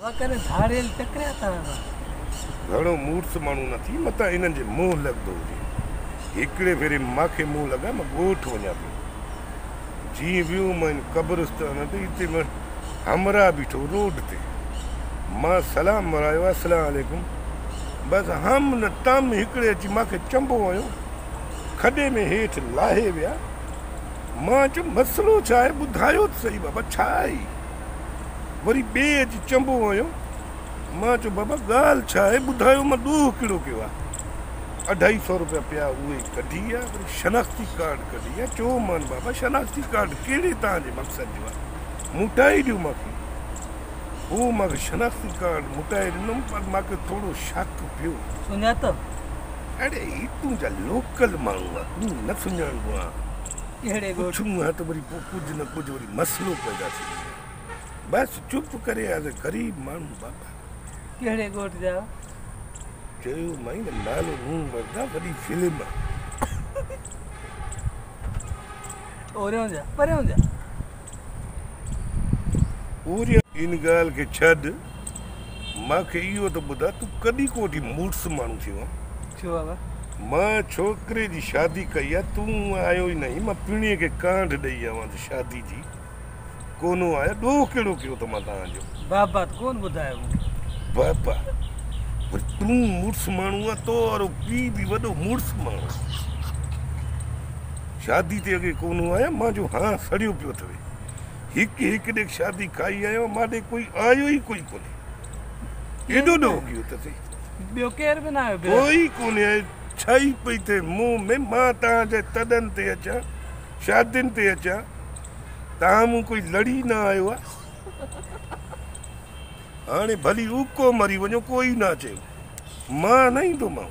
وکر ڌاڙيل ٽڪريا تان وا. گهڻو مورس ماڻهو نه ٿي متان انهن جي منهن لڳندو هجي. هڪڙي ڀيري ماکي منهن لڳا مان ڳوٺ وڃان پيو. جيئن ويو مان ان قبرستان تي اتي مان همراهه بيٺو روڊ تي. مان سلام مرايو السلام عليڪم بس هم نه تم هڪڙي اچي ماکي چنبو هنيو. کڏي ۾ هيٺ لاهي ويا. مان چيم مسئلو ڇا آهي ٻڌايو ته سهي بابا ڇا آهي؟ وري ٻئي اچي چنبو هنيو. مان چيو بابا ڳالهه ڇا آهي ٻڌايو مان ڏوهه ڪهڙو ڪيو آهي؟ اڍائي سئو روپيا پيا اهي ڪڍي آ وري شناختي ڪارڊ ڪڍي آ چيو مان بابا شناختي ڪارڊ ڪهڙي توهان جي مقصد جو آهي موٽائي ڏيو مان کي هو مان کي شناختي ڪارڊ موٽائي ڏنم پر مان کي ٿورو شڪ پيو. سڃاتو؟ اڙي هي تنهنجا لوڪل ماڻهو آ تون نه سڃاڻبو آهين. ڪهڙي ڳوٺ؟ پڇون ها ته وري پوء ڪجهه نه ڪجهه وري مسئلو پيدا ٿي ويندو. بس چپ ڪري ايز اي غريب ماڻهو بابا. ڪهڙي ڳوٺ جا آهيو؟ چيو مانء نه نالو نون وردا وڏي فلم آ. ان ڳالهه کي ڇڏ، مان کي اهو ته ٻڌاء تون ڪڏهن ڪو ٿي مڙس ماڻهو ٿيو آهين؟ ڇو بابا؟ مان ڇوڪري جي شادي ڪئي آهي، تون آيو ئي ناهين، مان پڻهيء کي ڪانڊ ڏئي آوان ٿي شادي جي. ڪونهون آهي ڏوهه ڪهڙو ڪيو ته مان توهان جو بابا ته ڪون ٻڌايو مون کي بابا ور تون مڙس ماڻهو آ تو وارو پي به وڏو مڙس ماڻهو شادي تي اڳي ڪونهون آهي مان جو هان سڙيو پيو اٿوي هڪ هڪ ڏيک شادي کائي آيو مان ڏي ڪوئي آيو ئي ڪوئي ڪونهي ايڏو ڏو ڪيو ته سي ٻيو ڪير به نه آيو ڪوئي ڪونهي ڇا ئي پئي ٿئي مون ۾ مان تان جي تڏن تي اچان شاھدين تي اچان تاھان مون ڪوئي لڙي نه آيو آ ھاڻي ڀلي اوڪو مري وڃو ڪوئي نه چيو مان نه ايندومانو.